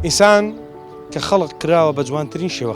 ئینسان کە خەڵق کراوە بە جوانترین شێوە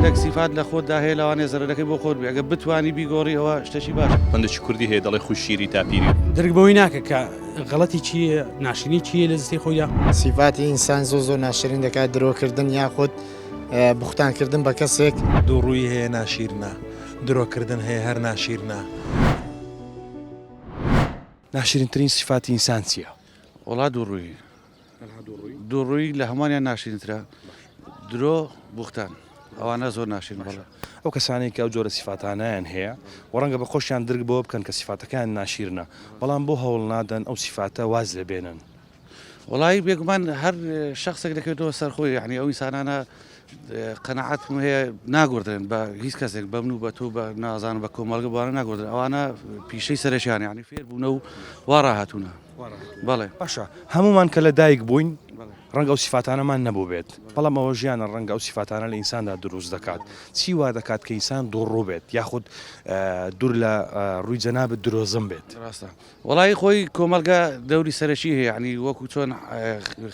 هەندێک سیفات لە خۆتدا هەیە لەوانێ زەرەرەکەی بۆ خۆت بێ ئەگە بتانی بیگۆڕی ئەوە شتەشی باش هەندێکی کوردی هەیە دەڵێ خوش شیری تاپیری درک بەوەی ناکە کە غەڵەتی چیە ناشرینی چیە لە جستی خۆیدا سیفاتی ئینسان زۆ زۆر ناشرین دەکات درۆکردن یاخود بوختانکردن بە کەسێک دووڕووی هەیە ناشیرنە درۆکردن هەیە هەر ناشیرنە. ناشرینترین سیفاتی ئینسان چیە؟ وەڵا دووڕووی. دووڕووی لە هەمووانیان ناشرینترە، درۆ، بوختان. ئەوانە زۆر ناشرین بەڵێ. ئەو کەسانەی کە ئەو جۆرە سیفاتانەیان هەیە و ڕەنگە بە خۆشیان درک بەوە بکەن کە سیفاتەکەیان ناشیرنە، بەڵام بۆ هەوڵ نادەن ئەو سیفاتە واز لێ بێنن؟ وەڵایی بێگومان هەر شەخسێک دەکەوێتەوە سەر خۆی، یەعنی ئەو ئینسانانە قەناعەتم هەیە ناگۆڕدرێن بە هیچ کەسێک، بە من و بە تۆ و بە نازانم بە کۆمەڵگە بەوانە ناگۆڕدرێن، ئەوانە پیشەی سەرەکییانە یەعنی فێربوونە و وا ڕاهاتوونە. بەڵێ باشە هەمومان کە لە دایک بووین ڕەنگە ئەو سیفاتانەمان نەبووبێت بەڵام ئەوە ژیانە ڕەنگە ئەو سیفاتانە لە ئینساندا دروست دەکات چی وا دەکات کە ئینسان دوڕوو بێت یاخود دوور لە ڕووی جەنابەت درۆزم بێت ڕاستە وڵی خۆی کۆمەلگا دەوری سەرەکی هەیە عنی وەکو چۆن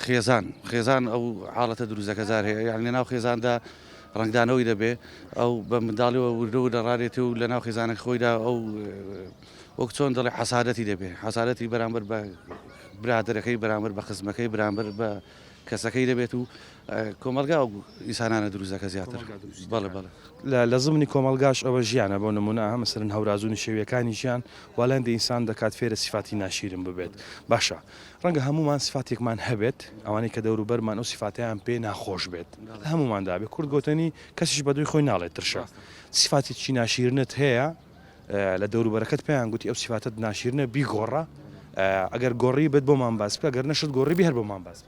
خێزان خێزان ئەو حاڵەتە دروستەکە زار هەیە یان لە ناو خێزاندا ڕنگدانەوەی دەبێ ئەو بە منداڵیەوە وردە و دەڕارێتی و لە ناو خێزانە خۆیدا ئەو وەک چۆن دەڵێ حەسادەتی دەبێ حەسادەتی بەرامبەر بە برادەرەکەی بەرامبەر بە خزمەکەی بەرامبەر بە کەسەکەی دەبێت و کۆمەلگا و ئیسانانە دروزەکە زیاتر بەڵ بەڵ لە زمنی کۆمەلگاش ئەوە ژیانە بۆ نمونە هەمەسەرن هەورازونی شێویەکانی ژیان والەندی ئینسان دەکات فێرە سیفاتی ناشیرن ببێت باشە ڕەنگە هەمومان سفاتێکمان هەبێت ئەوانەی کە دەوروبەرمان ئەو سفاتیان پێ ناخۆش بێت هەموماندابێت کورد گوتنی کەسیش بەدوی خۆی ناڵێت ترشە سفاتی چی ناشیرنت هەیە لە دەوروبەرەکەت پێیان گوتی ئەو سیفاتەت ناشیرنە بیگۆڕە ئەگەر گۆڕی بێت بۆمان باس بکە گەر نەشت گۆڕی بێ هەر بۆمان باس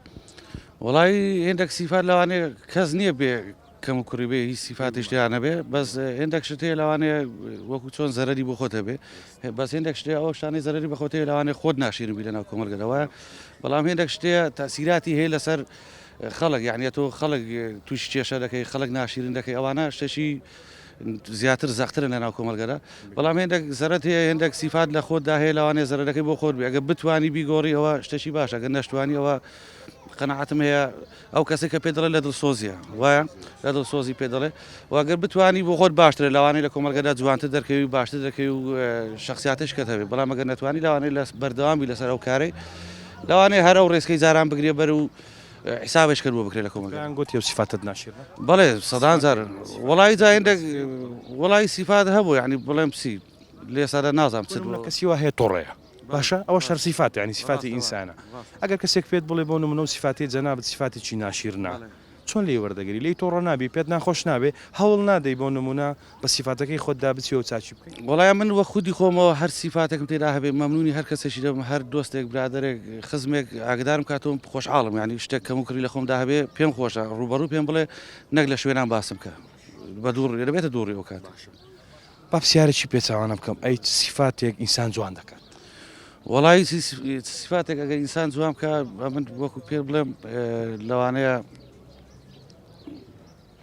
وڵی هێندێک سیفات لەوانەیە کەس نییە بێ کەم و کوڕی بێ هی سیفاتی شتیانە بێ بەس هێندێک شت هەیە لەوانەیە وەکو چۆن زەرری بۆ خۆتە بێ بەس هێندێک شتێ ئەو شتانی زەرری بە خۆتەیە لەوانێ خۆت ناشیرن بی لەناو کۆمەلگەرەوە بەڵام هێندێک شتێ تاسیراتی هەیە لەسەر خەڵک یعنی تۆ خەڵک توش کێشە دەکەی خەڵک ناشیرن دەکەی ئەوانە شتێکی زیاتر زەقترن لە ناو کۆمەڵگەدا بەڵام هێندێک زەرەت هەیە هێندێک سیفات لە خۆتدا هەیە لەوانەیە زەرەرەکەی بۆ خۆت بێ ئەگەر بتوانی بیگۆڕی ئەوە شتێکی باشە ئەگەر نەشتوانی ئەوە قەناعەتم هەیە ئەو کەسێک کە پێ دەڵێ لە دڵسۆزیە وایە لە دڵسۆزی پێ دەڵێ واگەر بتانی بۆ خۆت باشترە لەوانەیە لە کۆمەڵگەدا جوانتر دەرکەوی و باشتر دەکەی و اه، شخصیاتش کە هەبێ بەڵام ئەگەر نەتوانی لەوانەیە لە بەردەوامی لەسەر ئەو کارەی لەوانەیە هەر ئەو ڕێسکەی جاران بگرێ بەر و حسابش کرد بۆ بکرێت لە کۆمەڵگا. دەیان گۆت یەو سیفاتت ناشیرنە؟ بەڵێ سەدان جار وەڵایی جا هێندێک وەڵایی سیفات هەبوو یانی بڵێم چی لە ئێستادا نازانم چت بۆ. کەسی وا هەیە تۆڕەیە باشە ئەوەش هەر سیفاتە یانی سیفاتی ئینسانە ئەگەر کەسێک پێت بڵێ بۆ نموونە و سیفاتی جەنابت سیفاتێکی ناشیرنە چۆن لێی وەردەگری لێی تۆڕە نابی پێت ناخۆش نابێ هەوڵ نادەی بۆ نموونە بە سیفاتەکەی خۆتدا بچی و چاکی بکەی. وەڵای من وەک خودی خۆمەوە هەر سیفاتێکم تێدا هەبێ مەمنونی هەر کەسێکی دەبم هەر دۆستێک برادەرێک خزمێک ئاگدارم کاتەوە خۆشحاڵم یانی شتێک کەم و کڕی لە خۆمدا هەبێ پێم خۆشە ڕوبەڕوو پێم بڵێ نەک لە شوێنان باسم کە بە دوو ڕێ دەبێتە دوو ڕێ و کات با پرسیارێکی پێچوانە بکەم ئەی سیفاتێک ئینسان جوان دەکات وەڵی سیفاتێک ئەگەر ئینسان جوان بکە من وەکو پێ بڵێم لەوانەیە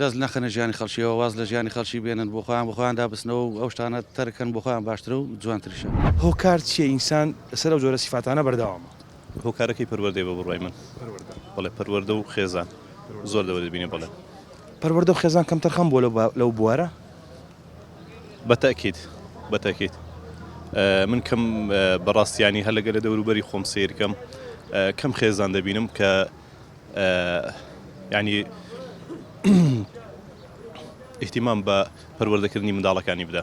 دەست نەخەنە ژیانی خەڵکیەوە واز لە ژیانی خەڵکی بێنن بۆ خۆیان بەخۆیان دابستنەوە و ئەو شتانە تەرک کەن بۆ خۆیان باشترە و جوانتریشە. هۆکار چیە ئینسان لەسەر ئەو جۆرە سیفاتانە بەردەوامە؟ هۆکارەکەی پەروەردەیە بە بڕوای من. پەروەردە. بەڵێ پەروەردە و خێزان. پەروەردە. زۆر لەوە دەبینێ بەڵێ. پەروەردە و خێزان کەمتەرخەم بووە لەو لەو بوارە؟ بە تەئکید بە تەئکید من کەم بە ڕاستیانی هەلەگە لە دەوروبەری خۆم سەیرکەم کەم خێزان دەبینم کە یانی ئیهتیمام بە پەروەردەکردنی منداڵەکانی بدە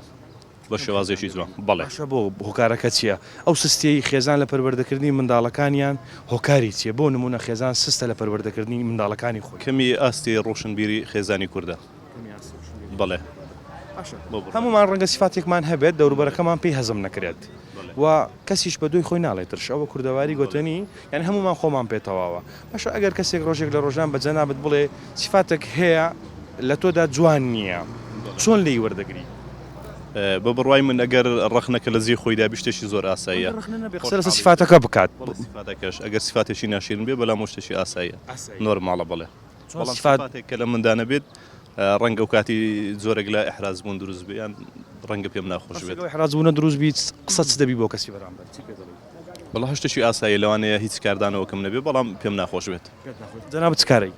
بە شێوازێکی جوان بەڵێ شە بۆ هۆکارەکە چییە ئەو سستیەی خێزان لە پەروەردەکردنی منداڵەکانیان هۆکاری چیە بۆ نمونە خێزان سستە لە پەروەردەکردنی منداڵەکانی خۆی کەمی ئاستی ڕۆشنبیری خێزانی کوردە بەڵێ هەموومان ڕەنگە سیفاتێکمان هەبێت دەوروبەرەکەمان پێی هەزم نەکرێت و کەسیش بە دوی خۆی ناڵێت ترش ئەوە کوردەواری گوتنی یان هەمومان خۆمان پێتەواوە باش ئەگەر کەسێک ڕۆژێک لە ڕۆژان بە جەنابەت بڵێ سیفاتێک هەیە لە تۆدا جوان نییە چۆن لی وەردەگری بە بڕوای من ئەگەر ڕخنەکە لە زی خۆیدا بشتێکی زۆر ئاساییە قسە سیفاتەکە بکات ئەگەر سیفاتێکی ناشرین بێ بەلام شتێکی ئاساییە نۆرماڵە بڵێ بەڵام سیفاتێک کە لە مندا نەبێت ڕەنگە و کاتی جۆرەك لە ئحراز بوون دروست بێ یان ڕەنگە پێم ناخۆش بێت حراز بوونە دروست بیت قسە چ دەبی بۆ کەسی بەرامبەر بەڵا هەشتێکی ئاسایی لەوانەیە هیچ کاردانەوەکەم نەبێ بەڵام پێم ناخۆش بێت جەنا بچکارەی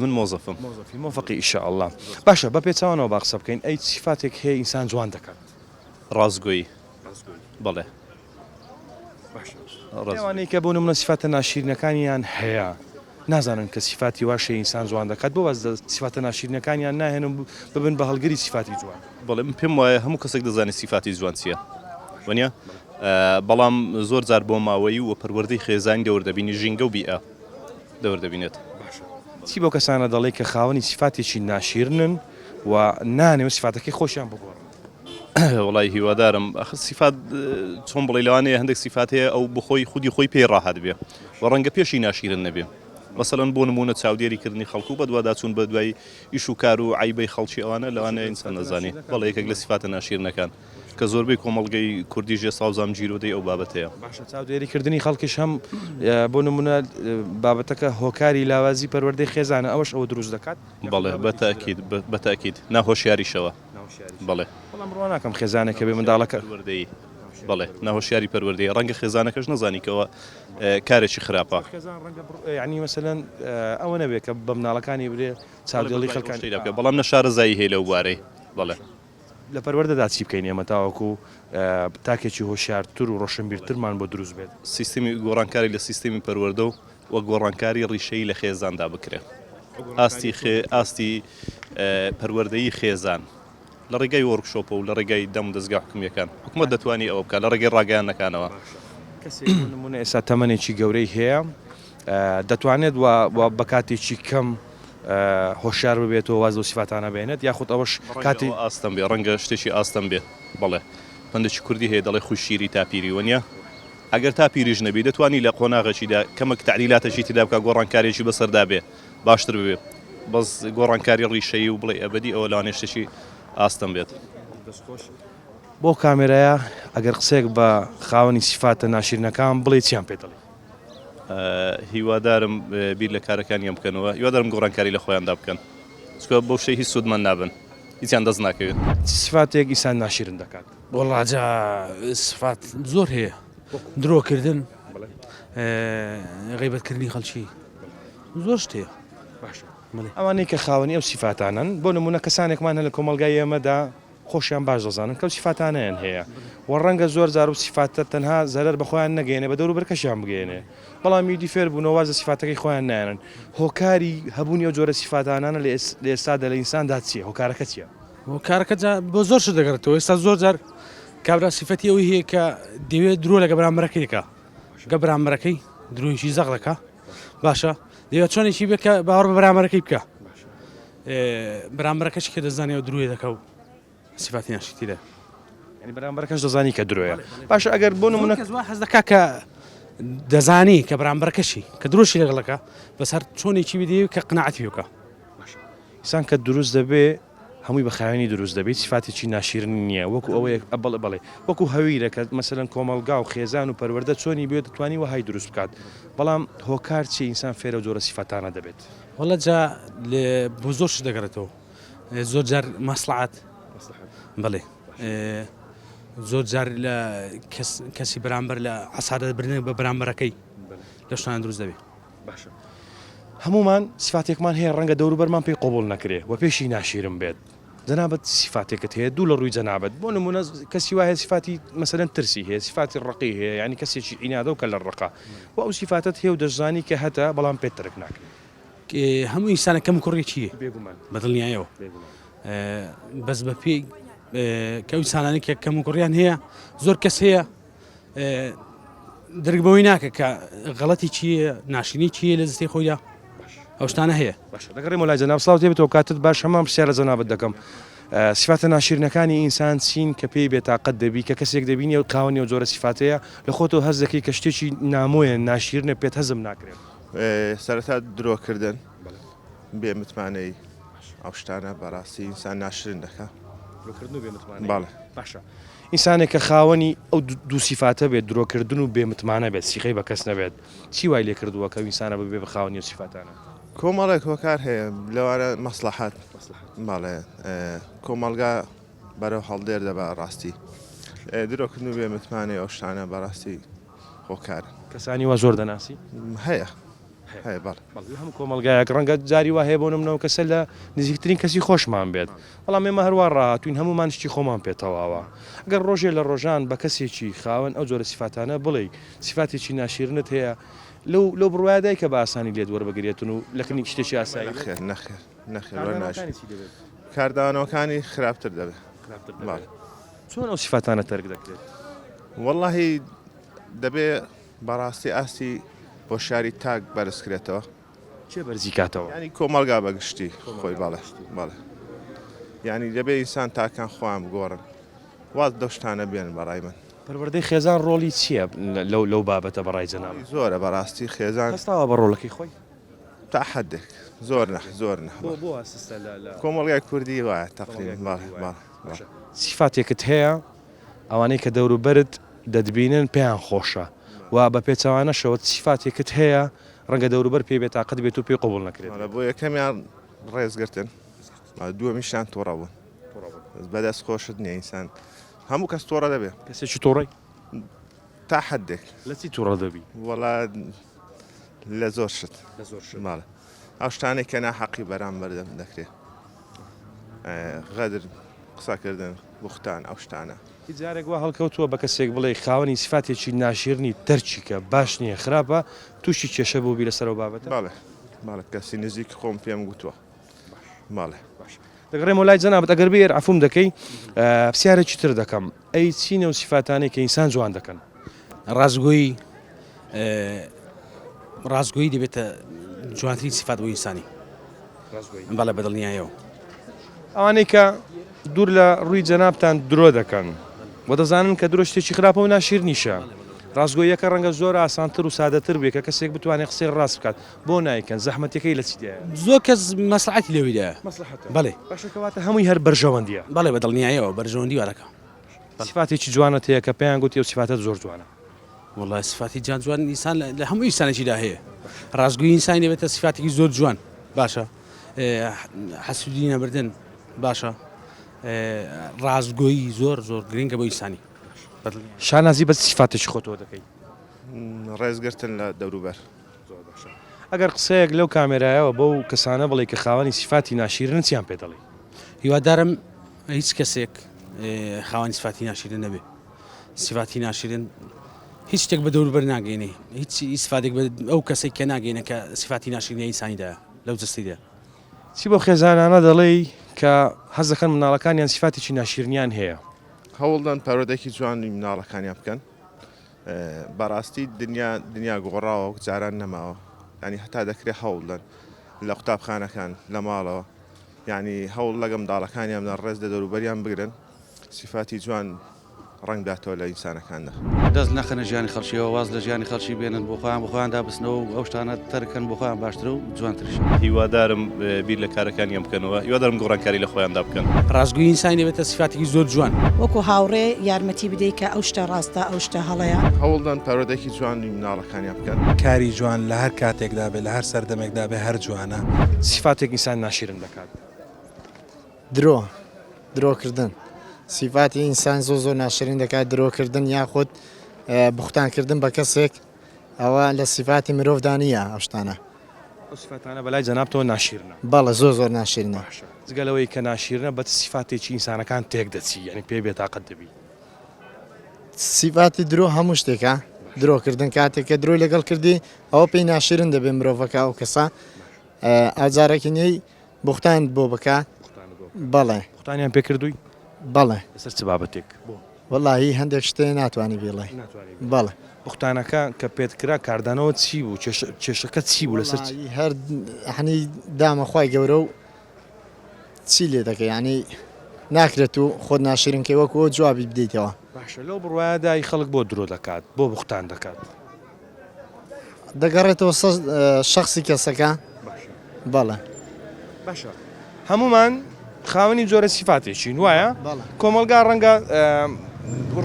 من مۆزەفم مۆزەفی مۆفقی ئیشە ئەللا باشە بە پێچوانەوە با قسە بکەین ئەی سیفاتێک هەیە ئینسان جوان دەکات ڕاستگۆی بەڵێ ئەوانەی کە بۆ نمونە سیفاتە ناشیرینەکانیان هەیە نازانن کە سیفاتی وا شێ ئینسان جوان دەکات بۆ واز لە سیفاتە ناشیرینەکانیان ناهێن و ببن بە هەڵگری سیفاتی جوان بەڵێ من پێم وایە هەموو کەسێک دەزانێت سیفاتی جوان چییە وەنیە بەڵام زۆر جار بۆ ماوەیی و پەروەردەی خێزانی دەور دەبینی ژینگە و بیئە دەور دەبینێت چی بۆ کەسانە دەڵێ کە خاوەنی سیفاتێکی ناشیرنن و نانێ و سیفاتەکەی خۆشیان بگۆڕن وەڵای هیوادارم ئەخ سیفات چۆن بڵێ لەوانەیە هەندێک سیفات هەیە ئەو بخۆی خودی خۆی پێی ڕاحەت بێ و ڕەنگە پێشی ناشیرن نەبێ مەسەلەن بۆ نمونە چاودێری کردنی خەڵکو و بەدواداچوون بە دوای ئیش و کار و عیبەی خەڵکی ئەوانە لەوانە ئینسان نەزانانی بەڵ یەکێک لە سیفاتە ناشیرنەکان کە زۆربەی کۆمەڵگەی کوردی ژێ ساوزام جیرۆدەی ئەو بابەتەیە چاودێری کردنی خەڵکیش هەم بۆ نمونە بابەتەکە هۆکاری لاوازی پەروەردەی خێزانە ئەوش ئەوە دروست دەکات بەڵێ بەتاکیید بەتاکیید ناهۆشیاریشەوە. بەڵێ ناهۆشیاری پەروەردەیە ڕەنگە خێزانەکەش نەزانی کەەوە کارێکی خراپە بەڵام نە شارەزایی هەیە لەو بارەی بەڵێ لە پەروەردەدا چی بکەین ئێمە تاوەکو تاکێکی هۆشارتر و ڕۆشنبیرترمان بۆ دروست بێت سیستمی گۆڕانکاری لە سیستمی پەروەەردە و و گۆڕانکاری ڕیشەیی لە خێزاندا بکرێت ئاستی ئاستی پەروەردەیی خێزان لە ڕێگای وۆرکشۆپە و لە ڕێگای دەم دەستگا حکومیەکان حکومە دەتوانانی ئەوە بکە لە ڕێگەی ڕاگەیانەکانەوە نمونە ئێستا تەمەێکی گەورەی هەیە دەتوانێت بە کاتێکی کەم هۆشار ببێتەوە واز و سیفاتانە بێنێت یاخود ئەوەش کاتی ئاستم بێ ڕەنگە شتێکی ئاستم بێ بڵێ هەندێکی کوردی هەیە دەڵێ خوشیری تاپیری وەنیە ئەگەر تا پیریش نەبی دەتوانی لە قۆناغەکیدا کەمەک تەعدیلاتەکی تێدا بکە گۆڕانکاریەکی بەسەردا بێ باشتر ببێ بەس گۆڕانکاری ڕیشەیی و بڵێ ئەبەدی ئەوە لەوانەیە شتێکی ئاستەم بێت. دەست خۆش. بەو کامێرایە ئەگەر قسەیەک بە خاوەنی سیفاتە ناشیرنەکان بڵێی چیان پێ دەڵێی؟ هیوادارم بیر لە کارەکانیان بکەنەوە هیوادارم گۆڕانکاری لە خۆیاندا بکەن چکە بەو شەی هیچ سوودمەند نابن هیچیان دەست ناکەوێت. چ سیفاتێک ئیسان ناشیرن دەکات؟ وەڵا جا سفات زۆر هەیە درۆ کردن غیبەت کردنی خەلکی زۆر شتێ باشە ئەوانەی کە خاوەنی ئەو سیفاتانن بۆ نمونە کەسانێکمان هە لە کۆمەلگای ئێمەدا خۆشیان باش دەزانن کەو سیفاتانیان هەیە و ڕەنگە زۆر زار و سیفاتە تەنها زەرەر بەخۆیان نەگەێنێ بە دەور بەرکەشیان بگەێنێ بەڵام یدی فێر بوونەوە زە سیفاتەکەی خۆیان نایەن هۆکاری هەبوونی ئەو جۆرە سیفاتانانە لە ئێستا دە لە ئینساندا چیە هۆکارەکە چیە کارەکە جا بۆ زۆر شت دەگەڕێتەوە ئێستا زۆر جار کابرا سیفەتی ئەوەی هەیە کە دەوێت درۆ لەگە بەرامبەرەکەیەکە گە بەرامبەرەکەی درۆیشی زەق دەکا باشە دەوێت چۆنێکی بێت کە باوەڕ بە بەرامبەرەکەی بکە بەرامبەرەکەشی کە دەزانانی و درۆی دەکە و سیفاتی ناشتی لە ینی بەرامبەرەکەش دەزانی کە درۆیە باشە ئەگەر بۆ نمونە حەز دەکا کە دەزانی کە بەرامبەرەکەشی کە درۆشی لەگەڵەکە بەسەر چۆنێکی بدی کە قنەعاتی بکە ئینسان کە دروست دەبێ هەمووی بە خاوێنی دروست دەبێ هیچ سیفاتێکی ناشیرنی نییە وەکو ئەوەیە بەڵێ بەڵێ وەکو هەویرە کە مەسەلەن کۆمەڵگا و خێزان و پەروەردە چۆنی بوێ دەتوانی وەهای دروست بکات بەڵام هۆکار چیە ئینسان فێرە و جۆرە سیفەتانە دەبێت؟ وەڵا جا بۆ زۆر شت دەگەڕێتەوە زۆر جار مەسڵەحەت بەڵێ زۆر جار لە کەسی بەرامبەر لە عەسارەت برنێ بە بەرامبەرەکەی لە شتان دروست دەبێ. باشە هەموومان سفاتێکمان هەیە ڕەنگە دەوروبەرمان پێی قوبول نەکرێ و پێشی ناشیرم بێت جەنابەت سیفاتێکت هەیە دوو لە ڕووی جەنابەت بۆ نمونە کەسی وایە سیفاتی مەسەرەن ترسی هەیە سیفاتی ڕقی هەیە ینی کەسێکی ئینادە و کە لە ڕقا و ئەو سیفاتت هێو دەشزانی کە هەتا بەڵام پێ ترک ناکرێت هەموو ئینسانە کەم کوڕێکی بێگومان بەدڵنیایەوە بەس بە پێی کەوسانانی کە کەم کوڕیان هەیە زۆر کەس هەیە درک بەوەی ناکە کە غەڵەتی چی ناشرینی چی لە زستی خۆیدا ئەو شتانە هەیە باش دەگەڕێ مەلای جەناب سڵاو تێ بێتەوە کاتت باش هەمان پرسیار لە جەنابت دەکەم سفاتە ناشیرنەکانی ئینسان چین کە پێی بێتاقەت دەبی کە کەسێک دەبینی و قاونی و جۆرە سفاتەیە لە خۆتەوە هەز دەکەی کە شتێکی نامۆیە ناشیرنە پێت هەزم ناکرێت سەرەتا درۆکردن بێ متمانەی ئەو شتانە بەڕاستی ئینسان ناشرن دەکە باڵە باشە ئینسانێک کە خاوەنی ئەو دوو سیفاتە بێت، درۆکردن و بێ متمانە بێت، سیقەی بە کەس نەبێت، چی وای لێ کردووە کە ئەو ئینسانە ببێ بە خاوەنی ئەو سیفاتانە؟ کۆمەڵێک هۆکار هەیە، لەوانە مەسڵەحەت، بەڵێ کۆمەڵگا بەرەو هەڵدێر دەبا، ڕاستی درۆکردن و بێ متمانەی ئەو شتانە بە ڕاستی. هۆکارن. کەسانی وا زۆر دەناسی؟ هەیە هەیە بەڵێ. لە هەموو کۆمەڵگایەک ڕەنگە جاری وا هەیە بۆ نمونە ئەو کەسە لە نزیکترین کەسی خۆشمان بێت، بەڵام ئێمە هەر وا ڕاهاتووین هەموومان شتی خۆمان پێ تەواوە. گەر ڕۆژێ لە ڕۆژان بە کەسێکی خاوەن ئەو جۆرە سیفاتانە بڵێی سیفاتێکی ناشیرنت هەیە لەو لەو بڕوایە دای کە بە ئاسانی لێت وەربگرێتن و لە کنی شتێکی ئاسایی بێت. نەخێر نەخێر نەخێر وەرناگرێت. کاردانەوەکانی چی دەبێت؟ کاردانەوەکانی خراپتر دەبێت. خراپتر دەبێت. بەڵێ. چۆن ئەو سیفاتانە تەرک دەکرێت؟ وەڵاهی دەبێ بەڕاستی ئاستی هۆشیاری تاک بەرزکرێتەوە. کێ بەرزی کاتەوە؟ یعنی کۆمەڵگا بە گشتی خۆی بەڵێ بەڵێ یعنی دەبێ ئینسان تاکان خۆیان بگۆڕن واز لەو شتانە بێنن بەڕای من. پەروەردەی خێزان ڕۆڵی چییە لەو لەو بابەتە بەڕای جەنابت؟ ڕۆڵی زۆرە بەڕاستی خێزان. هەستاوە بە ڕۆڵەکەی خۆی؟ تا حەدێک زۆر نە زۆر نە. بۆ بۆ وا سستە لە لە. کۆمەڵگای کوردی وایە تەقریبەن بەڵێ بەڵێ. سیفاتێکت هەیە ئەوانەی کە دەوروبەرت دەتبینن پێیان خۆشە و بە پێچەوانەشەوە سیفاتێکت هەیە ڕەنگە دەوروبەر پێی بێتاقەت بێت و پێی قبوڵ نەکرێت. بۆ یەکەمیان ڕێزگرتن دووەمیشیان توڕە بوون بەدەست خۆشت نییە ئینسان هەموو کەس تۆڕە دەبێ کەسێکی تۆڕی تا حدێک لەچی توڕە دەبی وەڵا لە زۆر شت لە زۆر شت ماڵە. ئەو شتانەی کە ناحەقی بەرامبەر دەم دەکرێت غەدر قسەکردن بوختان ئەو شتانە. هیچ جارێک وا هەڵکەوتووە بە کەسێک بڵێی خاوەنی سیفاتێکی ناشیرنی تەرکیکە باش نییە خراپە تووشی کێشە بووبی لەسەر ئەو بابەتە؟ بەڵێ بەڵێ کەسی نزیکی خۆم پێم گوتووە بەڵێ. باش دەگەڕێمەوە لای جەنابت ئەگەر بێ ئێر عەفووم دەکەی پسیارێکی تر دەکەم. ئەی چین ئەو سیفاتانەی کە ئینسان جوان دەکەن؟ ڕاستگۆیی، ڕاستگۆیی دەبێتە جوانترین سیفات بۆ ئینسانی. ڕاستگۆیی. بەڵێ بەدڵنیایەوە. ئەوانەی کە دوور لە ڕووی جەنابتان درۆ دەکەن و دەزانن کە درۆ شتێکی خراپە و ناشیرنیشە. ڕاستگۆییەکە ڕەنگە زۆر ئاسانتر و سادەتر بێت کە کەسێک بتوانێت قسەی ڕاست بکات، بۆ نایکەن زەحمەتەکەی لە چیدایە؟ زۆر کەس مەسلحەتی لێویدا مەسلحەتە بەڵێ باشە کەواتە هەمووی هەر بەرژەوەندیە بەڵێ بە دڵنیایەوە بەرژەوەندی وەرەکە سفاتێکی جوانە تەیە کە پێیان گوتی و سفاتت زۆر جوانە وڵای سفاتی جان جوان ئینسان لە هەموو ئینسانێکیدا هەیە ڕاستگوی ئینسانی دەبێتە سفاتێکی زۆر جوان باشە حەسودی نەبردن باشە ڕاستگۆیی زۆر زۆر گرنگە بۆ ئینسانی شانازی بە سفاتێکی خۆتەوە دەکەیت ڕێزگرتن لە دەوروبەر ئەگەر قسەیەک لەو کامێرایەوە بەو کەسانە بڵێی کە خاوەنی سیفاتی ناشیرنن چیان پێ دەڵێی؟ هیوادارم هیچ کەسێک خاوەنی سیفاتی ناشیرن نەبێ سیفاتی ناشیرن هیچ شتێک بە دەوروبەر ناگەینێ هیچ ئیسفادێک بە ئەو کەسێک کە ناگەینە کە سیفاتی ناشیرنی ئینسانیدا لەو جستیدا چی بۆ خێزانانە دەڵێی کە حەز دەکەن مناڵەکانیان سیفاتێکی ناشیرنیان هەیە؟ هەوڵدەن پەروەردەیەکی جوانی مناڵەکانیان بکەن بەڕاستی دنیا دنیا گۆڕاوە وەک جاران نەماوە ینی هەتا دەکرێت هەوڵدەن لە قوتابخانەکان لە ماڵەوە ینی هەوڵ لەگەم داڵەکانیان لە ڕێز لە دەروبەریان بگرن سیفاتی جوان ڕەنگداتەوە لە ئینسانەکاندا دەست نەخەنە ژیانی خەڵکیەوە واز لە ژیانی خەڵکی بێنن بۆ خۆیان بۆ خۆیاندا بسنەوە و ئەو شتانە تەرککەن بۆ خۆیان باشترە و جوانترش. هیوادارم بیر لە کارەکانیان بکەنەوە هیوادارم گۆڕانکاری لە خۆیاندا بکەن. ڕاستگۆیی ئینسانی دەبێتە سیفاتێکی زۆر جوان. وەکو هاوڕێ یارمەتی بدەی کە ئەو شتە ڕاستە ئەو شتە هەڵەیە. هەوڵدەن پەروەردەیەکی جوانی مناڵەکانیان بکەن. کاری جوان لە هەر کاتێکدا بێت لە هەر سەردەمێکدا بێت هەر جوانە. سیفاتێک ئینسان ناشیرن دەکات. درۆ، درۆ کردن، سیفاتی ئینسان زۆر زۆر ناشرین دەکات درۆ کردن یاخود بوختان کردن بە کەسێک. ئەوە لە سیفاتی مرۆڤدا نییە ئەو شتانە. ئەو سیفاتانە بەلای جەنابتەوە ناشیرنە؟ بەڵێ زۆر زۆر ناشیرنە. باشە جگە لەوەی کە ناشیرنە بە چ سیفاتێکی ئینسانەکان تێکدەچی یانی پێی بێتاقەت دەبی؟ سیفاتی درۆ هەموو شتێکە درۆکردن کاتێک کە درۆی لەگەڵ کردی ئەوە پێی ناشیرن دەبێت مرۆڤەکە ئەو کەسە ئازارەکی نێی بوختانت بۆ بکا بەڵێ. بوختانیان پێ کردووی؟ بەڵێ. لەسەر چ بابەتێک؟ وەڵاهی هەندێک شتێ ناتوانی بیڵێ. ناتوانی بیڵێ. بەڵێ. بوختانەکە کە پێت کرا کاردانەوە چی بوو؟ کێشە کێشەکە چی بوو لەسەر چ؟ وەڵاهی هەر یەعنی دامە خوای گەورە و چی لێ دەکەی یەعنی ناکرێ تو خۆت ناشیرین کەی وەکو ئەو جوابی بدەیتەوە. باشە لەو بڕوایەدای خەڵک بۆ درۆ دەکات بۆ بوختان دەکات؟ دەگەڕێتەوە سەر شەخسی کەسەکە بەڵێ باشە هەمومان خاوەنی جۆرە سیفاتێکین وایە کۆمەلگا ڕەنگە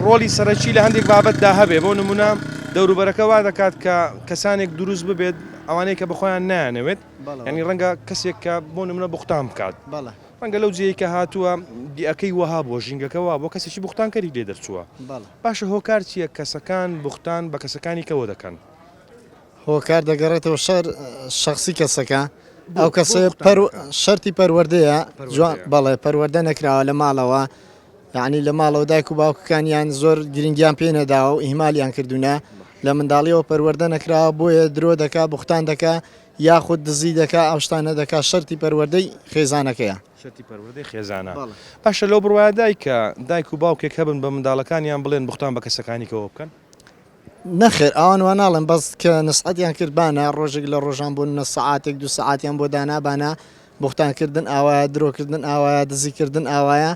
ڕۆلی سەرەکی لە هەندێک بابەتدا هەبێ بۆ نمونە دەوروبەرەکە وا دەکات کە کەسانێک دروست ببێت ئەوانەیە کە بخۆیان نایانەوێت ینی ڕەنگە کەسێک کە بۆ نمونە بختان بکات ڕەنگە لەو جێیەی کە هاتووە دیەکەی وەها بووە، ژینگەکە وا بووە کەسێکی بوختانکەری لێ دەرچووە. باشە هۆکار چییە کەسەکان بوختان بە کەسەکانی کەوە دەکەن؟ هۆکار دەگەڕێتەوە شەر شەخسی کەسەکە، ئەو کەسە شەرتی پەروەردەیە جوان بەڵێ پەروەردە نەکراوە لە ماڵەوە یعنی لە ماڵەوە دایک و باوکەکانیان زۆر گرنگیان پێ نەداوە و ئیهمالیان کردوونە لە منداڵیەوە پەروەردە نەکراوە بۆیە درۆ دەکا بوختان دەکا یاخود دزی دەکا ئەوشتانە دەکا شەرتی پەروەردەی خێزانەکەیە. شەرتی پەروەردەی خێزانە باشە لەو بڕوایە دایکە دایک و باوکێک هەبن بە منداڵەکانیان بڵێن بوختان بە کەسەکانی کەوە بکەن؟ نەخێر ئەوان وا ناڵێن بەس کە نەسحەتیان کرد بانە ڕۆژێک لە ڕۆژان بۆ نە سەعاتێک دوو سەعاتیان بۆ دانا بانە بوختان کردن ئاوایە درۆکردن ئاوایە دزی کردن ئاوایە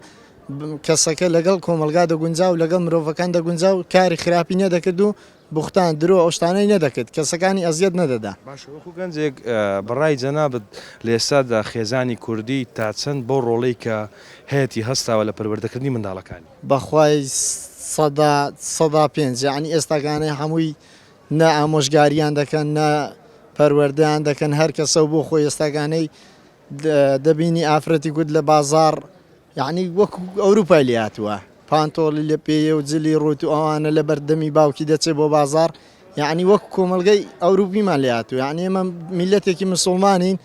کەسەکە لەگەڵ کۆمەلگا دەگونجا و لەگەڵ مرۆڤەکان دەگونجا و کاری خراپی نەدەکرد و بوختان، درۆ، ئەو شتانەی نەدەکرد، کەسەکانی ئەزیەت نەدەدا. باشە وەکو گەنجێک بە ڕای جەنابت لە ئێستادا خێزانی کوردی تا چەند بەو ڕۆڵەی کە هەیەتی هەستاوە لە پەروەردەکردنی منداڵەکانی؟ بەخوای سەدا سەدا پێنج یەعنی ئێستاکانەی هەمووی نە ئامۆژگاریان دەکەن نە پەروەردەیان دەکەن هەرکەسەو بۆخۆی ئێستاکانەی دەبینی ئافرەتی کورد لە بازاڕ یەعنی وەکو ئەوروپای لێهاتووە پانتۆڵی لە پێیە و جلی ڕووت و ئەوانە لەبەر دەمی باوکی دەچێت بۆ بازاڕ یەعنی وەکو کۆمەڵگەی ئەوروپیمان لێهاتووە یەعنی ئێمە میلەتێکی مسوڵمانین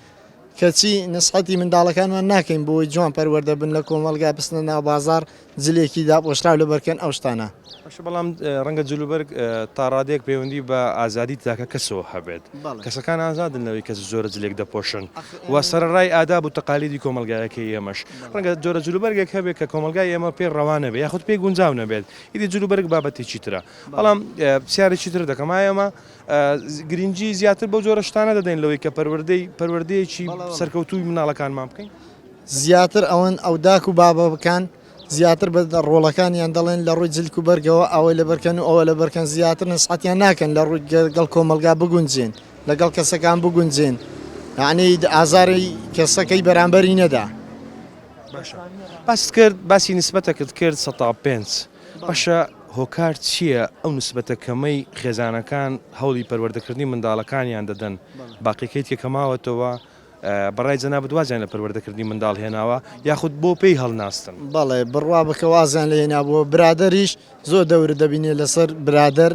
کەچی نسحەتی منداڵەکانمان ناکەین بۆی جوان پەروەردە بن لە کۆمەڵگا بچنە ناو بازاڕ جلێکی داپۆشراو لەبەر بکەن ئەو شتانە. باشە بەڵام ڕەنگە جلوبەرگ تا ڕادەیەک پەیوەندی بە ئازادی تاکە کەسەوە هەبێت کەسەکان ئازادن لەوەی کەس زۆرە جلێک دەپۆشن و سەرەڕای ئاداب و تەقالیدی کۆمەلگایەکەی ئێمەش ڕەنگە جۆرە جلوبەرگێک هەبێت کە کۆمەلگای ئێمە پێ ڕەوانە بێ یاخود پێی گونجاو نەبێت ئیدی جلوبەرگ بابەتێکی ترە بەڵام پرسیارێکی تر دەکەم ئایا ئێمە گرنگی زیاتر بۆ جۆرە شتانە دەدەین لەوەی کە پەروەردەی پەروەردەیەکی سەرکەوتووی مناڵەکانمان بکەین زیاتر ئەوەن ئەو داک و بابەکان زیاتر بە ڕۆڵەکانیان دەڵێن لە ڕووی جلک و بەرگەوە ئەوە لەبەرکەن و ئەوە لەبەرکەن زیاتر نەسحەتیان ناکەن لە ڕووی گەڵ کۆمەلگا بگونجێن لەگەڵ کەسەکان بگونجێن یعنی ئازاری کەسەکەی بەرامبەری نەدا باست کرد باسی نسبەتەکەت کرد سە پێنج باشە هۆکار چییە ئەو نسبەتە کەمەی خێزانەکان هەوڵی پەروەردەکردنی منداڵەکانیان دەدەن باقیکەیت کە کەماوەتەوە بەڕای جەنابت وازیان لە پەروەردەکردنی منداڵ هێناوە یاخود بۆ پێی هەڵناستن؟ بەڵێ بڕوا بکە وازیان لێ هێنابووە، برادەریش زۆر دەورت دەبینێ لەسەر برادەر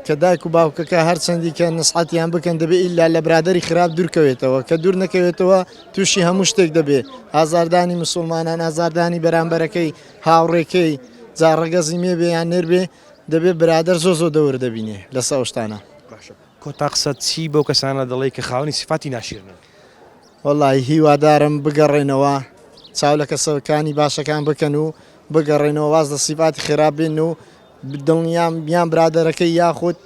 کە دایک و باوکەکە هەرچەندی کە نسحەتیان بکەن دەبێ ئیلا لە برادری خراپ دوورکەوێتەوە کە دوور نەکەوێتەوە تووشی هەموو شتێک دەبێ ئازاردانی مسلمانان ئازاردانی بەرامبەرەکەی هاوڕێکەی جاڕگەزی مێبێ یان نێربێ دەبێ برادەر زۆ زۆ دەور دەبینێ لە سەوشتانە. کۆتا قسەت چی بەو کەسانە دەڵێی کە خاوەنی سیفاتی ناشیرنن؟ وەڵای هیوادارم بگەڕێنەوە چاو لە کەسەکانی باشەکان بکەن و بگەڕێنەوە واز لە سیفاتی خێرا بێن و دڵنیام یان برادەرەکەی یاخود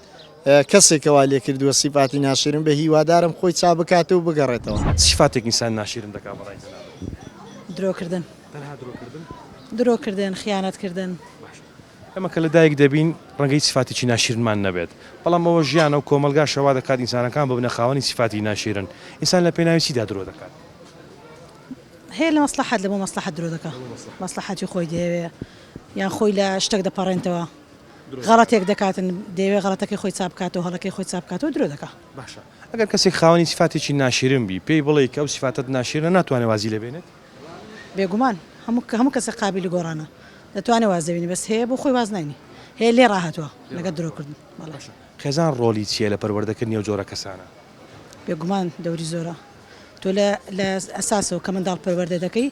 کەسێکەوە لێ کردووە سیفاتی ناشیرن بە هیوادارم خۆی چا بکات و بگەڕێتەوە. چ سیفاتێک ئینسان ناشیرن دەکات بە ڕای جەنابت؟ درۆکردن. تەنها درۆکردن؟ درۆکردن، خیانەتکردن. باشە. ئێمە کە لەدایک دەبین ڕەنگە هیچ سیفاتێکی ناشیرنمان نەبێت، بەڵام ئەوە ژیانە و کۆمەڵگاشە وا دەکات ئینسانەکان ببنە خاوەنی سیفاتی ناشیرن. ئینسان لە پێناوی چیدا درۆ دەکات؟ هەیە لە مەسڵەحەت، لە بۆ مەسڵەحەت درۆ دەکا. مەسڵەحەتی خۆی دەیەوێ یان خۆی لە شتێک دەپەڕێنتەوە، غەڵەتێک دەکاتن دەیەوێ غەڵەتەکەی خۆی چاپ بکاتەوە، هەڵەکەی خۆی چاپ بکاتەوە درۆ دەکا. باشە ئەگەر کەسێک خاوەنی سیفاتێکی ناشیرن بی، پێی بڵێی کە ئەو سیفاتەت ناشیرنە ناتوانێ وازی لێ بێنێت؟ بێگومان هەموو هەموو کەسێک قابیلی گۆڕانە دەتوانێ واز لێ بینێ بەس هەیە بۆ خۆی واز ناینی هەیە لێ ڕاهاتوە لەگەر درۆ کردن بەڵێ. خێزان ڕۆلی چیە لە پەروەردە کردنی ئەو جۆرە کەسانە؟ بێگومان دەوری زۆرە تۆ لە لە ئەساسەوە کە منداڵ پەروەردە دەکەی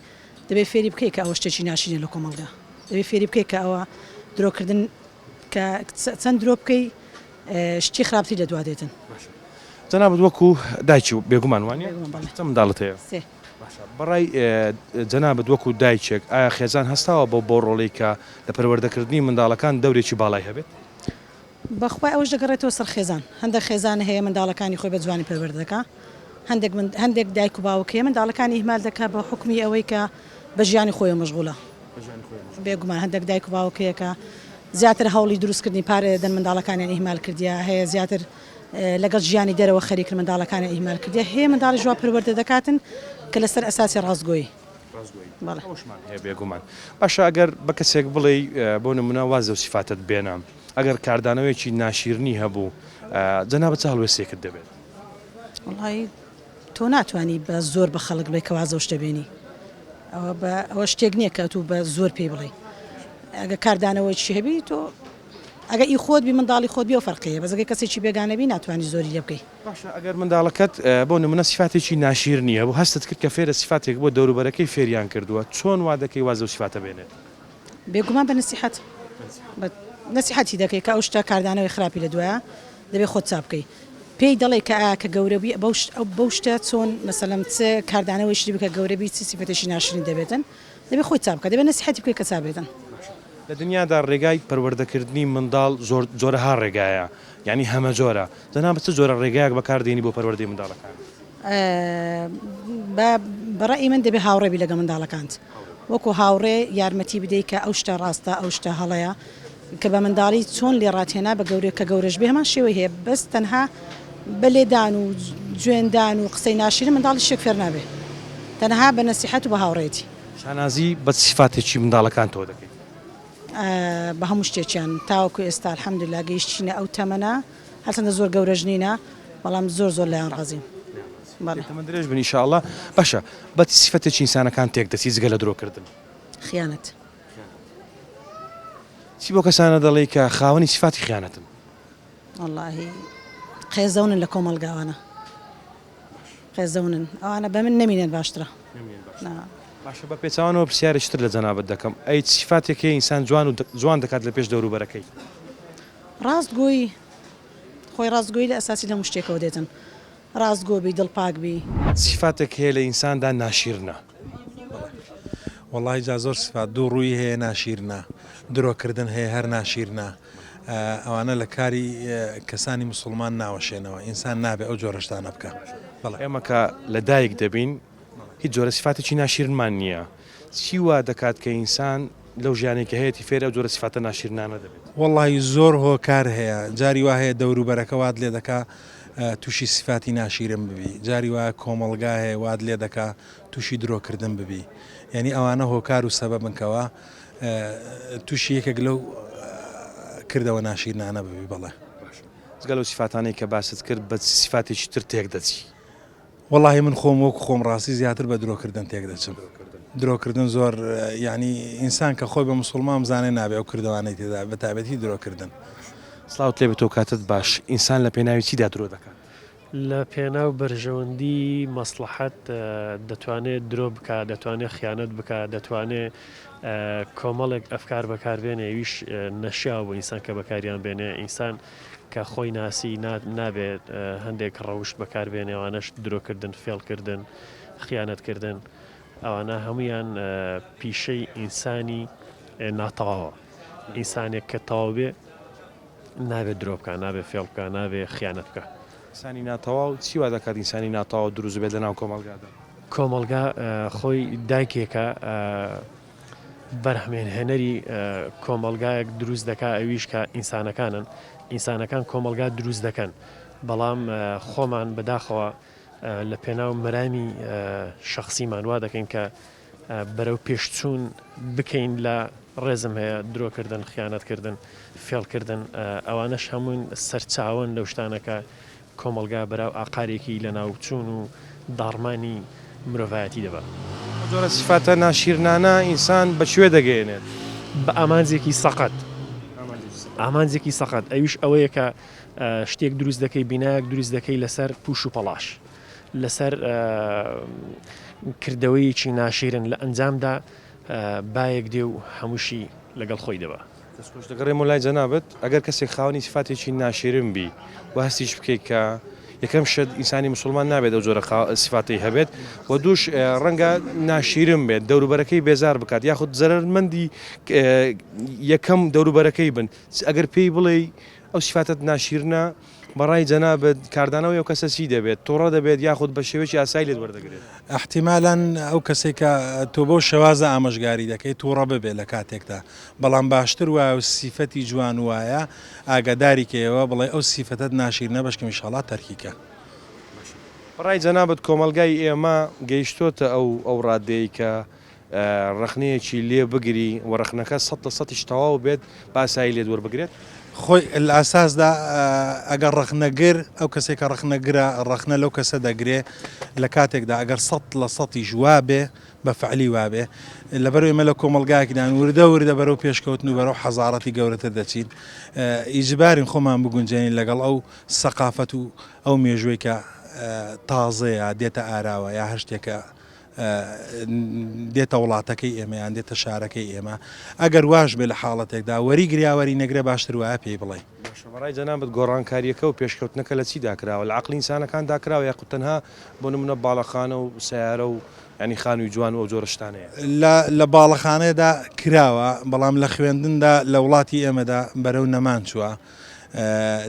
دەبێ فێری بکەی کە ئەوە شتێکی ناشرینە لە کۆمەڵگا دەبێ فێری بکەی کە ئەوە درۆ کردن کە چەند درۆ بکەی شتی خراپتری لە دوا دێتن. جەنابت وەکو دایکی بێگومان وانیە؟ بێگومان بەڵێ. چەند منداڵت هەیە؟ سێ. باشە بەڕای جەنابت وەکو دایکێک ئایا خێزان هەستاوە بەو بەو ڕۆڵەی کە لە پەروەردەکردنی منداڵەکان دەورێکی باڵای هەبێت؟ بەخوای ئەوەش دەگەڕێتەوە سەر خێزان هەندێک خێزان هەیە منداڵەکانی خۆی بە جوانی پەروەردە دەکا هەندێک من هەندێک دایک و باوک هەیە منداڵەکانی ئیهمال دەکا بە حوکمی ئەوەی کە بە ژیانی خۆیەوە مەشغوڵە بێگومان هەندێک دایک و باوک هەیە کە زیاتر هەوڵی دروستکردنی پارە دەدەن منداڵەکانیان ئیهمال کردیە هەیە زیاتر لەگەڵ ژیانی دەرەوە خەریکن منداڵەکانیان ئیهمال کردیە هەیە منداڵیش وا پەروەردە دەکاتن کە لەسەر ئەساسی ڕاستگۆی. بەڵێ. ئەوەشمان هەیە بێگومان. باشە ئەگەر بە کەسێک بڵێی بۆ نمونە واز لەو سیفاتەت بێنە ئەگەر کاردانەوەیەکی ناشیرنی هەبوو جەنابت چ هەڵوێستێکت دەبێت؟ وەڵایی تۆ ناتوانی بە زۆر بە خەڵک بڵێی کە واز لەو شتە بێنی ئەوە بە ئەوە شتێک نییە کە ئەتوو بە زۆر پێی بڵێی ئەگەر کاردانەوەیەکی هەبی تۆ ئەگەر ئی خۆت بی منداڵی خۆت بی ئەو فەرقی هەیە بەس ئەگەر کەسێکی بێگانە بی ناتوانی زۆری لێ بکەی. باشە ئەگەر منداڵەکەت بۆ نمونە سیفاتێکی ناشیرنی هەبوو هەستت کرد کە فێرە سیفاتێک بووە دەوروبەرەکەی فێریان کردووە چۆن وا دەکەی واز لەو سیفاتە بێنێت؟ بێگومان بە نەسیحەت بە نەسیحەتی دەکەی کە ئەو شتە کاردانەوەی خراپی لە دوایە دەبێ خۆت چاک بکەی پێی دەڵێی کە ئایا کە گەورە بی بەو شتە چۆن مەسەلەن چ کاردانەوەیشی بکە گەورە بی چ سیفەتێکی ناشرین دەبێتن. دەبێت خۆی چا بکات دەبێت نەسیحەتی بکەیت کە چا بێتن. باشە لە دنیادا ڕێگای پەروەردە کردنی منداڵ زۆر جۆرەها ڕێگایە یانی هەمەجۆرە جەنابت چ جۆرە ڕێگایەک بەکار دێنی بۆ پەروەردەی منداڵەکانت؟ بە بە ڕەئی من دەبێت هاوڕێ بی لەگە منداڵەکانت وەکو هاوڕێ یارمەتی بدەی کە ئەو شتە ڕاستە ئەو شتە هەڵەیە کە بە منداڵی چۆن لێڕات هێنا بە گەورە کە گەورەش بێ هەمان شێوەی هەیە بەس تەنها بە لێدان و جوێن دان و قسەی ناشرین منداڵی شتێک فێر نابێ تەنها بە نەسیحەت و بە هاوڕێیەتی. شانازی بە چ سیفاتێکی منداڵەکانتەوە دەکەیت؟ بە هەموو شتێکیان تاوەکو ئێستا الحمدللە گەیشتینە ئەو تەمەنە هەرچەندە زۆر گەورەش نینە بەڵام زۆر زۆر لێیان ڕازیم. بەڵێ. تەمەن درێژ بن ان شاء اللە. باشە بە چ سیفەتێکی ئینسانەکان تێک دەچیت جگە لە درۆ کردن؟ خیانەت. چی بۆ کەسانە دەڵێی کە خاوەنی سیفاتی خیانەتن؟ وەڵاهی قێزەونن لە کۆمەڵگاوانە قێزەونن ئەوانە بە من نەمینێن باشترە باشە بە پێچوانەوە پرسیارێکی تر لە جەنابەت دەکەم ئەی سیفاتێک هەیە ئینسان جوان و جوان دەکات لە پێش دەوروبەرەکەی ڕاستگۆی خۆی ڕاستگۆی لە ئەساسی لە مشتێکەوە دێتن ڕاست گۆ بی دڵ پاک بی. سیفاتێک هەیە لە ئینساندا ناشیرنە. وەڵاهی جا زۆر سفات دوو ڕووی هەیە ناشیرنە درۆ کردن هەیە هەر ناشیرنە ئەوانە لە کاری کەسانی مسوڵمان ناوەشێنەوە ئینسان نابێ ئەو جۆرە شتانە بکا بەڵێ ئێمە کە لە دایک دەبین هیچ جۆرە سیفاتێکی ناشیرنمان نییە. چی وا دەکات کە ئینسان لەو ژیانەی کە هەیەتی فێری ئەو جۆرە سیفاتە ناشیرنانە دەبێت؟ وەڵڵاهی زۆر هۆکار هەیە، جاری وا هەیە دەوروبەرەکە وات لێ دەکا تووشی سیفاتی ناشیرن ببی، جاری وا کۆمەڵگا هەیە وات لێ دەکا تووشی درۆ کردن ببی. یانی ئەوانە هۆکار و سەبەبن کە وا تووشی یەکێک لەو کردەوە ناشیرنانە ببی. بەڵێ. جگە لەو سیفاتانەی کە باست کرد بە چ سیفاتێکی تر تێک دەچی؟ وەڵاهی من خۆم وەک خۆم ڕاستی زیاتر بە درۆکردن تێک دەچم درۆکردن زۆر یعنی ئینسان کە خۆی بە مسلمان زانێ نابێ ئەو کردوانەی تێدا بە تابەتی درۆکردن سلااو تێ بتۆ کاتت باش ئینسان لە پێناوی چیدا درۆ دەکات لە پێناو بەرژەوەندی مەسلحەت دەتوانێت درۆ بک دەتوانێت خیانەت بک دەتوانێت کۆمەڵێک ئەفکار بەکاربێنێ ویش نەشیاو بۆ ئینسان کە بەکاریان بێنێ ئینسان کە خۆی ناسی نا نابێ هەندێک ڕەوشت بەکار بێنێ ئەوانەش درۆکردن فێڵکردن خیانەتکردن ئەوانە هەمویان پیشەی ئینسانی ناتەواوە ئینسانێک کە تەواو بێ نابێت درۆ بکە نابێ فێڵ بکە نابێ خیانەت بکە ئینسانی ناتەواو چی وا دەکات ئینسانی ناتەواو دروست بێت لەناو کۆمەڵگادا؟ کۆمەڵگا خۆی دایکێکە بەرهەمێنهێنەری کۆمەڵگایەک دروست دەکا ئەویش کە ئینسانەکانن ئینسانەکان کۆمەڵگا دروست دەکەن بەڵام خۆمان بەداخەوە لە پێناو مەرامی شخصیمان وا دەکەین کە بەرەو پێشچوون بکەین لە ڕێزم هەیە درۆکردن خیانەتکردن فێڵکردن ئەوانەش هەموون سەرچاوەن لەو شتانەکە کۆمەڵگا بەراو ئاقارێکی لەناوچوون و داڕمانی مرۆڤایەتی دەبات. ئەو جۆرە سیفاتە ناشیرنانە ئینسان بە کوێ دەگەیەنێت؟ بە ئامانجێکی سەقەت. ئامانجێکی سەقەت ئەویش ئەوەیە کە شتێک دروست دەکەی، بینایەک دروست دەکەی لەسەر پووش و پەڵاش، لەسەر کردەوەیەکی ناشیرن، لە ئەنجامدا بایەک دێ و هەمووشی لەگەڵ خۆی دەبا. دەست خۆش دەگەڕێمەوە لای جەنابت ئەگەر کەسێک خاوەنی سیفاتێکی ناشیرن بی و هەستیش بکەیت کە یەکەم شت ئینسانی مسلمان نابێت ئەو جۆرە سیفاتی هەبێت و دووش ڕەنگە ناشیرن بێت دەوروبەرەکەی بێزار بکات یاخود زەرمەندی یەکەم دەوروبەرەکەی بن ئەگەر پێی بڵێ ئەو سیفاتت ناشیرنە بەڕای جەنابت کاردانەوەی ئەو کەسە چی دەبێت؟ توڕە دەبێت یاخود بە شێوەیەکی ئاسایی لێت وەردەگرێت؟ ئیحتیمالا ئەو کەسەی کە تۆ بەو شێوازە ئامۆژگاری دەکەیت توڕە ببێت لە کاتێکدا، بەڵام باشتر وایە و سیفەتی جوان وایە ئاگاداری کەیەوە بڵێ ئەو سیفەتەت ناشیرنە بەشکم ئیشاڵا تەرکی کە. بەڕای جەنابت کۆمەڵگای ئێمە گەیشتۆتە ئەو ئەو ڕادەیەی کە ڕەخنەیەکی لێ بگری و ڕەخنەکە سەد لە سەدیش تەواو بێت با ئاسایی لێت وەربگرێت. خۆی لە ئەساسدا ئەگەر ڕەخنەگر ئەو کەسێک کە ڕەخنەگرە ڕەخنە لەو کەسە دەگرێ لە کاتێکدا ئەگەر سەد لە سەدیش وابێ بە فەعلی وابێ لەبەر ئێمە لە کۆمەڵگایەکدان وردە وردە بەرەو پێشکەوتن و بەرەو حەزارەتی گەورەتر دەچین ئیجبارین خۆمان بگونجێنین لەگەڵ ئەو سەقافەت و ئەو مێژووی کە تازەیە دێتە ئاراوە یا هەر شتێکە دێتە وڵاتەکەی ئێمە یان دێتە شارەکەی ئێمە ئەگەر واش بێ لە حاڵەتێکدا وەری گریاوەری نەگرێ باشتر وایە پێی بڵێ. باشە بەڕای جەنابت گۆڕانکاریەکە و پێشکەوتنەکە لە چیدا کراوە لە عەقڵی ئینسانەکان دا کراوە یاخود تەنها بۆ نمونە باڵەخانە و سەیارە و یانی خانوی جوان و ئەو جۆرە شتانەیە؟ لە لە باڵەخانەدا کراوە بەڵام لە خوێندندا لە وڵاتی ئێمەدا بەرەو نەمان چوە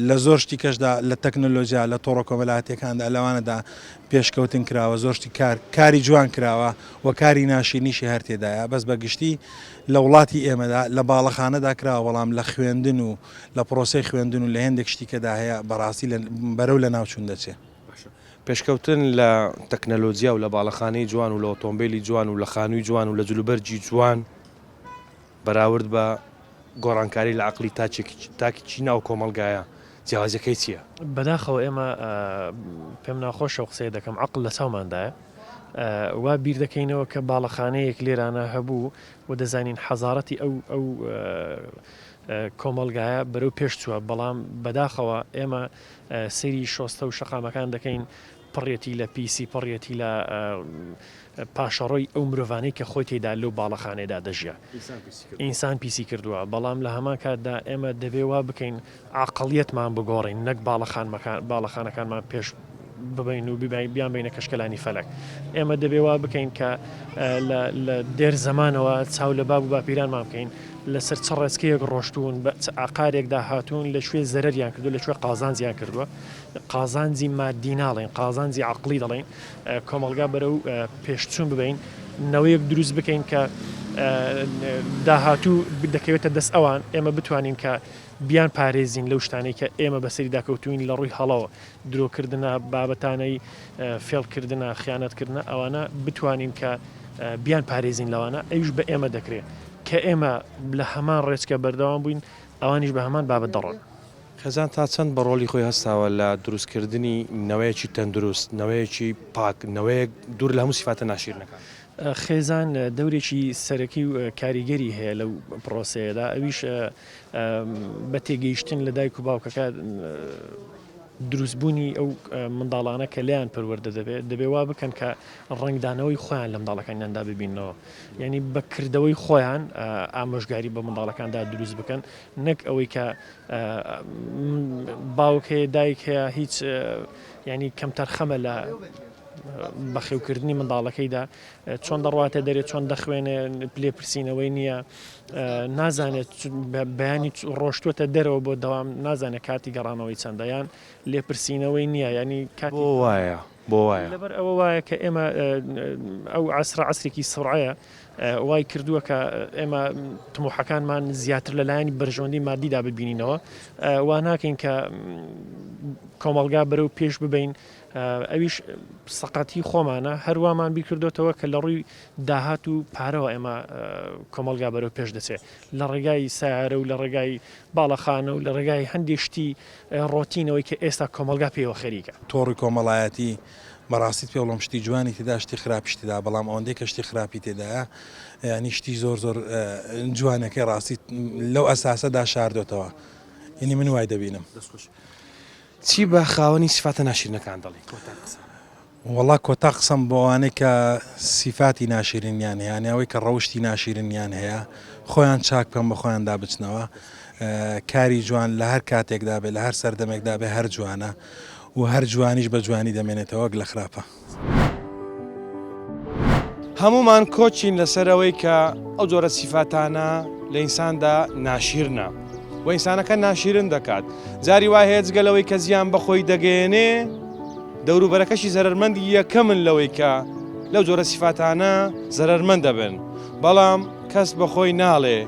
لە زۆر شتی کەشدا لە تەکنەلۆجیا لە تۆڕە کۆمەلاتەکاندا لەوانەدا پێشکەوتن کراوە زۆر شتی کار کاری جوان کراوە و کاری ناشیرنیشی هەر تێدایە بەس بە گشتی لە وڵاتی ئێمەدا لە باڵەخانەدا کراوە بەڵام لە خوێندن و لە پرۆسی خوێندن و لە هێندێک شتیکەدا هەیە بەڕاستی بەرەو لە ناوچون دەچێت. پێشکەوتن لە تەکنەلۆجیا و لە باڵەخانەی جوان و لە ئۆتۆمبیلی جوان و لە خانووی جوان و لە جلوبەرجی جوان بەراورد بە گۆڕانکاری لە عەقڵی تاکێکی تاکێکی ناو کۆمەڵگایە جیاوازیەکەی چیە؟ بەداخەوە ئێمە پێم ناخۆشە و قسەی دەکەم عەقڵ لە چاوماندایە وا بیر دەکەینەوە کە باڵەخانەیەک لێرانە هەبوو و دەزانین حەزارەتی ئەو ئەو کۆمەلگایە بەرەو پێشچووە بەڵام بەداخەوە ئێمە سری شۆستە و شەقامەکان دەکەین پڕیەتی لە پیسی پڕیەتی لە پاشەڕۆی ئەو مرۆڤانەی کە خۆی تێدا لەو باڵەخانەیەدا دەژیا ئینسان پیسی کردووە بەڵام لە هەمان کاتدا ئێمە دەبێ وا بکەین عقلیەتمان بگۆڕین نەک باڵەخانمەکان باڵەخانەکانمان پێش ببین و ببین بیان بینە کەشکەلانی فەلک ئێمە دەبێ وا بکەین کە لە دێر زمانەوە چاو لە باب و باپیرانمان بکەین لەسەر چ ڕێچکەیەک ڕۆشتون بە عقارێکدا هاتوون لە شوێ زەرریان کردو لە شوێ قازانجیان کردووە قازانجی مادی ناڵێین قازانجی عەقڵی دەڵێین کۆمەڵگا بەرەو پێشچوون ببەین نەوەیەک دروست بکەین کە داهاتوو دەکەوێتە دەست ئەوان ئێمە بتوانین کە بیان پارێزین لەو شتانی کە ئێمە بەسەری داکەوتوین لە ڕووی هەڵەوە درۆکردە بابەتانەی فێڵکردە خیانەتکردە ئەوانە بتوانین کە بیان پارێزین لەوانە ئەوش بە ئێمە دەکرێت کە ئێمە لە هەمان ڕێچکە بەردەوام بووین ئەوانیش بە هەمان بابەت دەڕۆن. خێزان تا چەند بە ڕۆڵی خۆی هەستاوە لە دروستکردنی نەوەیەکی تەندروست، نەوەیەکی پاک، نەوەیەک دوور لە هەموو سیفاتە ناشیرنەکان؟ خێزان دەورێکی سەرەکی و کاریگەری هەیە لەو پڕۆسەیەدا، ئەویش بە تێگەیشتن لە دایک و باوکەکە دروستبوونی ئەو منداڵانە کە لێیان پەروەردە دەبێت، دەبێ وا بکەن کە ڕەنگدانەوەی خۆیان لە منداڵەکانیاندا ببینەوە، یانی بە کردەوەی خۆیان ئامۆژگاری بە منداڵەکاندا دروست بکەن، نەک ئەوەی کە باوک هەیە دایک هەیە هیچ ینی کەمتەرخەمە لە بەخێوکردنی منداڵەکەیدا چۆن دەڕاتێ دەرێت چۆن دەخوێنێ پلێ پرسیینەوەی نییە نازانێت بەیانی ڕۆشتوتە دەرەوە بۆ دەوام نازانێت کاتی گەڕانەوەی چەندەیان لێپرسینەوەی نییە ینی کات وایە بۆ وایە لەبەر ئەوە وایە کە ئێمە ئەو عسرە عسرێکی سڕعەیە وای کردووە کە ئێمە تموحەکانمان زیاتر لە لایەنی بەرژەوەندی مادیدا ببینینەوە وا ناکەین کە کۆمەڵگا بەرەو پێش ببین ئەویش سەقەتی خۆمانە هەروامان بیکردوتەوە کە لە ڕووی داهات و پارەوە ئێمە کۆمەلگا بەرەو پێش دەچێت لە ڕێگای سارە و لە ڕێگای باڵەخانە و لە ڕێگای هەندێشتی ڕۆتینەوەی کە ئێستا کۆمەلگا پێوە خەریکە تۆڕی کۆمەڵایەتی بەڕاستیت پێ بڵێم شتی جوانی تێدا شتی خراپیش تێدا بەڵام ئەوەندەی کە شتی خراپی تێدایە یانی شتی زۆر زۆر جوانەکەی ڕاستیت لەو ئەساسەدا شاردۆتەوە یعنی من وای دەبینم چی بە خاوەنی سفاتە ناشیرنەکان دەڵی وڵا کۆتا قسەم بۆوانەی کە سیفاتی ناشیرنیان هەیەیانەوەی کە ڕەوشی ناشیرنیان هەیە خۆیان چاک بکەم بە خۆیان دابچنەوە کاری جوان لە هەر کاتێکدا بێ لە هەر سەردەمێکدا بێ هەر جوانە و هەر جوانیش بە جوانی دەمێنێتەوە وەک لە خراپە. هەموومان کۆچین لەسەر ئەوەی کە ئەو جۆرە سیفاتانە لە ئینساندا ناشیرنە و ئینسانەکە ناشیرن دەکات جاری وای هەیە جگەلەوەی کە زیان بەخۆی دەگەێنێ دەوروبەرەکەشی زەرمەندی یەکەمن لەوەی کە لەو جۆرە سیفاتانە زەرمەند دەبن بەڵام کەس بەخۆی ناڵێ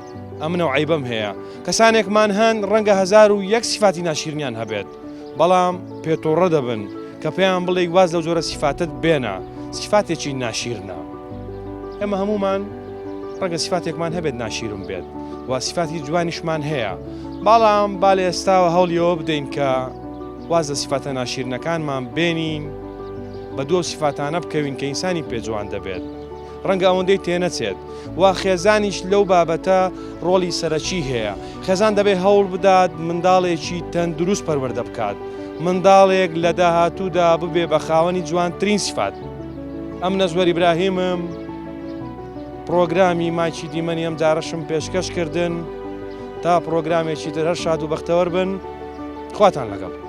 ئەمنە و عیبم هەیە کەسانێکمان هەن ڕەنگە هزار و یەک سیفاتی ناشیرنیان هەبێت بەڵام پێتۆڕە دەبن کە پێیان بڵێی واز لەو جۆرە سیفاتت بێنە سیفاتێکی ناشیرنە ئێمە هەمومان ڕەنگە سیفاتێکمان هەبێت ناشیرم بێت و سیفاتی جوانیشمان هەیە بەڵام با لە ئێستاوە هەوڵیەوە بدەین کە واز لە سیفاتە ناشیرنەکانمان بێنین بە دوو سیفاتانە بکەوین کە ئینسانی پێجوان دەبێت ڕەنگە ئەوەندەی تێنەچێت و خێزانیش لەو بابەتە ڕۆڵی سەرەکی هەیە خێزان دەبێت هەوڵ بدات منداڵێکی تەندروست پەروەەردە بکات منداڵێک لە داهاتوودا ببێ بە خاوەنی جوانترین سفات ئەم نەزوەری براهیمم پرۆگرامی ماچی دیمەنی ئەم جارەشم پێشکەش کردن تا پرۆگرامێکی تر هەر شاد و بەختەوەر بن خواتان لەگەڵ